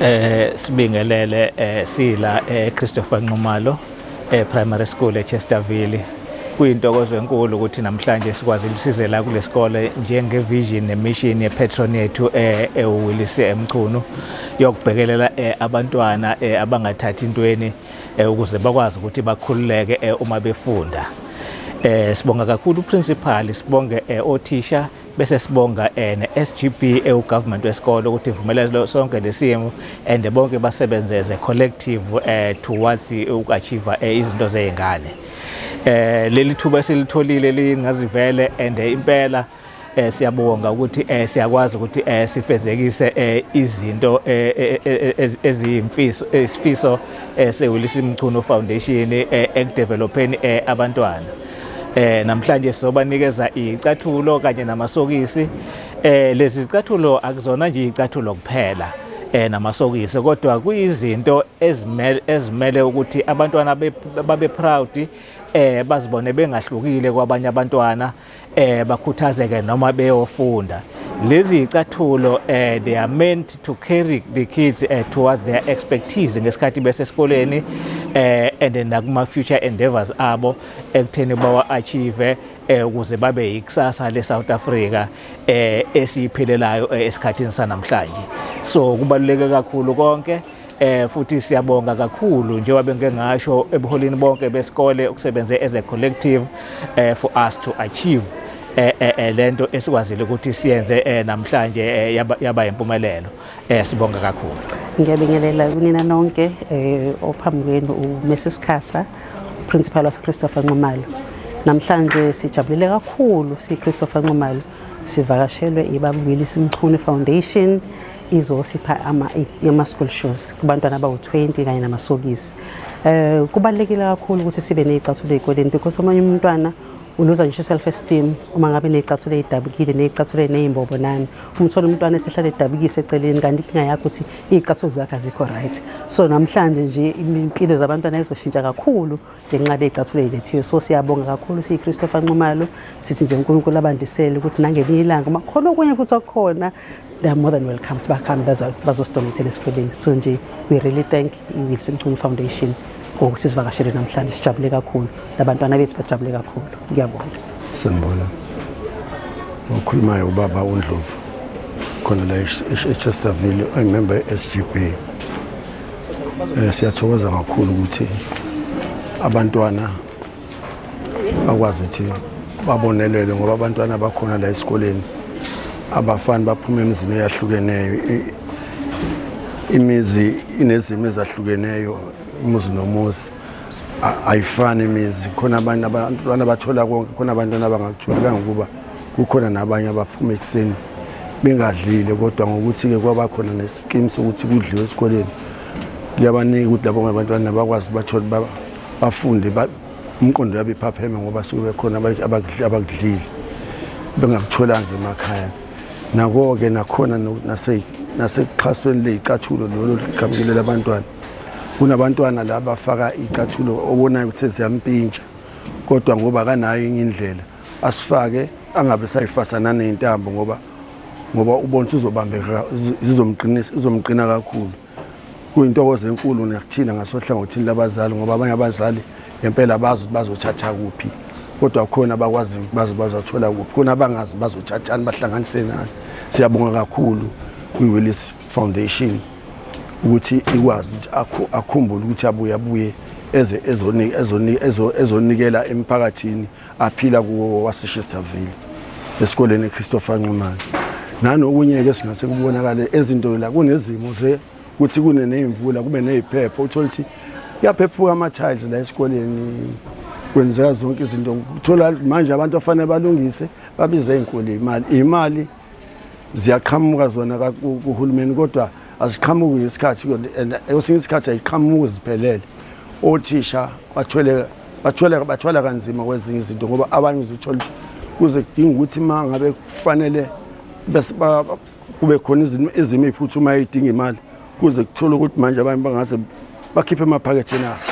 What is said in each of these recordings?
eh sibingelele eh sila eh Christopher Nxumalo eh primary school eChesterville kuyintokozo enkulu ukuthi namhlanje sikwazi ukusizela kulesikole njenge vision ne mission ye patron yethu eh eWillis eMchunu yokubhekelela eh, abantwana eh, abangathathi intweni eh, ukuze bakwazi ukuthi bakhululeke eh, uma befunda eh sibonga kakhulu principal sibonge eh, othisha bese sibonga eh, ne-SGB ewu government wesikole ukuthi ivumelele sonke lesimo and bonke basebenze as a collective eh, towards uku-achieve eh, izinto zey'ngane eh leli thuba esilitholile lingazivele and impela eh siyabonga ukuthi eh siyakwazi ukuthi eh sifezekise eh izinto eh, eh, eh, eziyimfiso isifiso sewulisi Mchunu Foundation ekudevelopeni abantwana eh namhlanje sizobanikeza icathulo kanye namasokisi eh lezi zicathulo akuzona nje icathulo kuphela eh namasokisi kodwa kuyizinto ezimele ezimele ukuthi abantwana babe proud eh bazibone bengahlukile kwabanye abantwana eh bakhuthazeke noma beyofunda lezi icathulo eh they are meant to carry the kids uh, towards their expertise ngesikhathi besesikoleni eh and then nakuma future endeavors abo ekutheni bawa achieve eh ukuze babe yikusasa le South Africa eh esiphelelayo eh, esikhathini sanamhlanje so kubaluleke kakhulu konke Eh futhi siyabonga kakhulu njengoba bengike ngasho ebuholini bonke besikole ukusebenze as a collective eh for us to achieve eh, eh, eh lento esikwazile ukuthi siyenze eh, namhlanje eh, yaba, yaba impumelelo eh sibonga kakhulu ngiyabingelela kunina nonke eh ophambi kwenu uMrs Khasa principal wase Christopher Nxumalo namhlanje sijabulile kakhulu si Christopher Nxumalo sivakashelwe ibabili simchune foundation izosipha ama-school shoes kubantwana abawu-20 kanye namasokisi um kubalulekile kakhulu ukuthi sibe ney'cathulo ey'koleni because omunye umntwana uluza ngisho i-self esteem uma ngabe ney'cathulo ey'dabukile ney'cathulo ey'ney'mbobo nani umthole umntwana esehlale edabukise eceleni kanti inkinga yakho ukuthi iy'cathulo zakhe azikho right so namhlanje nje impilo zabantwana izoshintsha kakhulu ngenqaba eyicathule ilethiwe so siyabonga kakhulu siyi-christopher nxumalo sithi nje unkulunkulu abandisele ukuthi nangelinye ilanga uma khona okunye futhi okukhona they're more than welcome ukuthi bakhambe bazosidonathela esikoleni so nje we really thank i-wilson chumi foundation ngokuthi sivakashele namhlanje sijabule kakhulu nabantwana bethu bajabule kakhulu ngiyabonga sanibona okhulumayo ubaba undlovu khona la echesterville angimemba e-sgb Eh, siyathokoza kakhulu ukuthi abantwana bakwazi ukuthi babonelele ngoba abantwana bakhona la esikoleni abafani baphuma emizini eyahlukeneyo imizi inezimo ezahlukeneyo umuzi nomuzi ayifani imizi khona abantu abantwana bathola konke khona abantwana abangakutholi kangokuba Kukhona nabanye abaphuma ekuseni bengadlile kodwa ngokuthi-ke kwaba khona nesikimu sokuthi kudliwe esikoleni kuyabaningi ukuthi labo ngabantwana bakwazi bathole bafunde umqondo yabe iphapheme ngoba suke bekhona abakudlile bengakutholanga emakhaya nako-ke nakhona nasekuxhasweni leyicathulo lolo liqhamukile labantwana kunabantwana la bafaka iy'cathulo obonayo ukuthi seziyampintsha kodwa ngoba akanayo enye indlela asifake angabe sayifasa naney'ntambo ngoba ngoba ubona uzobambeka zizomqinisa izomqina kakhulu kuyintokozo enkulu nakuthina ngasohlangothini labazali ngoba abanye abazali ngempela abazi ukuthi bazothatha kuphi kodwa khona abakwaziyo ukuthi baze bazothola kuphi khona abangazi bazothathani bahlanganise nani siyabonga kakhulu kwi-willis foundation ukuthi ikwazi ukuthi akhumbule ukuthi abuye abuye ezonikela emphakathini aphila kuwo waseShesterville esikoleni eChristopher Nxumalo nanokunye-ke singase kubonakale ezintolo la kunezimo ze kuthi kune ney'mvula kube ney'phepho uthole ukuthi kuyaphephuka ama-tiles la esikoleni kwenzeka zonke izinto uthola manje abantu afanele balungise babize iy'nkulu imali imali ziyaqhamuka zona kuhulumeni kodwa aziqhamuki ngesikhathi esinye isikhathi ayiqhamuki ziphelele othisha bathwele bathwele bathwala kanzima kwezinye izinto ngoba abanye uzithola ukuthi kuze kudinga ukuthi uma ngabe kufanele kube khona izimo ey'phuthumayo ey'dinga imali kuze kuthole ukuthi manje abanye bangase bakhiphe emaphaketheni abo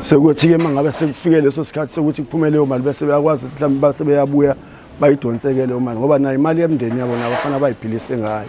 sekuthi-ke uma ngabe sekufike leso sikhathi sokuthi kuphume leyo mali bese beyakwazi mhlawumbe base beyabuya bayidonseke leyo mali ngoba nayo imali yemndeni yabo nabo fanele bayiphilise ngayo